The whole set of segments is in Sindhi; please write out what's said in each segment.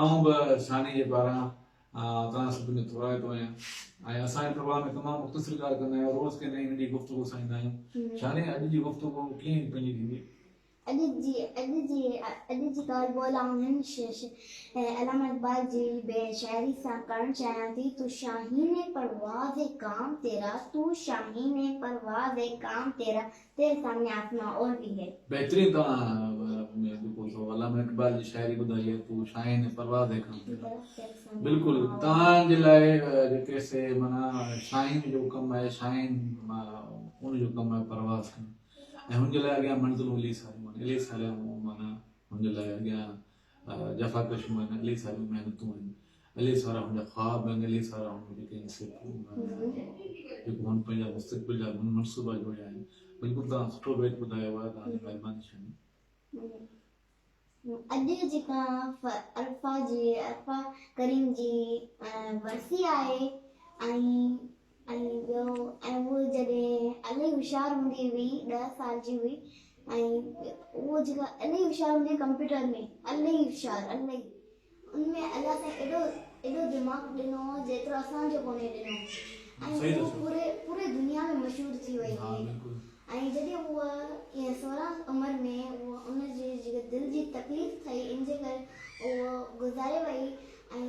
آئون به ثاني جي پاران توهان سڀ جو ٿورائتو آهيان ۽ اسان جي پروگرام ۾ تمام مختصر ڳالهه ڪندا آهيون روز ڪنهن نئين ننڍي گفتگو سان ايندا آهيون ثاني اڄ جي گفتگو ڪيئن پنهنجي ٿيندي؟ اڄ جي اڄ جي اڄ جي ڳالهه ٻولهه آئون هن علامه اقبال جي شاعري سان ڪرڻ چاهيان ٿي تو شاهين پرواز ڪام تيرا تو شاهين پرواز ڪام تيرا تيري سامني آسمان اور ڀي هي. بهترين توهان ۾ ڏکو ٿو علامه اقبال جي شاعري ٻڌائي هي تو شاهين ۽ پرواز هي کان پهريون بلڪل توهان جي لاء جيڪي سي معنيٰ شاهين جو ڪم آهي شاهين ان جو ڪم آهي پرواز کان ۽ هن جي لاء اڳيان منزل اليس عليم عليس عليم معنيٰ هن جي لاء اڳيان جفاڪشيون آهن الائي ساريون محنتون آهن الائي سارا هن جا خواب آهن الائي سارا هن جي ڪنهن حصي جيڪو هن پنهنجا مستقبل جا منصوبا جوڙيا آهن بلڪل توهان سٺو بيت ٻڌايو آهي توهان جي مهرباني شاهين اڄ جيڪا عرفا جي عرفا ڪريم جي ورسي آهي ۽ ۽ ٻيو ۽ هوء جڏهن الائي هوشيار هوندي هئي ڏهه سال جي هئي ۽ هوء جيڪا الائي هوشيار هوندي هئي ڪمپيوٽر ۾ الائي هوشيار الائي ان ۾ الله سائين ايڏو ايڏو دماغ ڏنو هو جيترو اسان جو ڪونهي ڏنو ۽ هوء پوري پوري دنيا ۾ مشهور ٿي وئي هئي ۽ جڏهن هوء ائين سورهن عمر ۾ هوء ان جي جيڪا دل جي تڪليف ٿئي ان جي ڪري هوء گذاري وئي ۽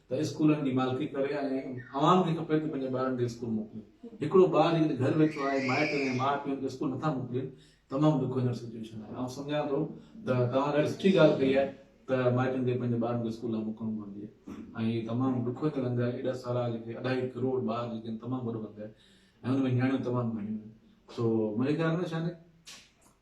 ته اسڪولن جي مالڪي ڪري ۽ عوام کي کپي ته پنهنجي ٻارن کي اسڪول موڪلي. هڪڙو ٻار جيڪڏهن گهر ويٺو آهي مائٽ ۽ ماء پيء هن کي اسڪول نٿا موڪلين تمام ڏکو هينئر سچوئيشن آهي آئون سمجهان ٿو ته توهان ڏاڍي سٺي ڳالهه ڪئي آهي ته مائٽن کي پنهنجي ٻارن کي اسڪول لاء موڪلڻ گهرجي ۽ هي تمام ڏکو هينئر انگ آهي ايڏا سارا جيڪي اڍائي ڪروڙ ٻار جيڪي آهن تمام وڏو انگ آهي ۽ ان ۾ نياڻيون تمام گهڻيون آهن سو منهنجي خيال ۾ شاني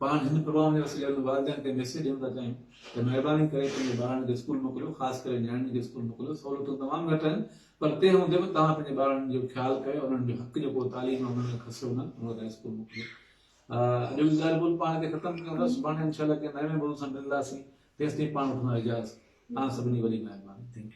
پاڻ هن پروگرام جي وسيلي انهن والدين کي ميسيج ڏيڻ ٿا چاهيون ته مهرباني ڪري پنهنجي ٻارڙن کي اسڪول موڪليو خاص ڪري نياڻين کي اسڪول موڪليو سهولتون تمام گهٽ آهن پر تنهن هوندي به توهان پنهنجي ٻارڙن جو خيال ڪيو انهن جو حق جيڪو تعليم آهي انهن کي کسيو نه انهن کي اسڪول موڪليو اڄ جو ظاهر بول پاڻ کي ختم ڪيون ٿا سڀاڻي انشاءالله ڪنهن نئين بول سان ملنداسين تيستائين پاڻ وٺندا اجازت تان سڀني وڏي مهرباني ٿينڪ يو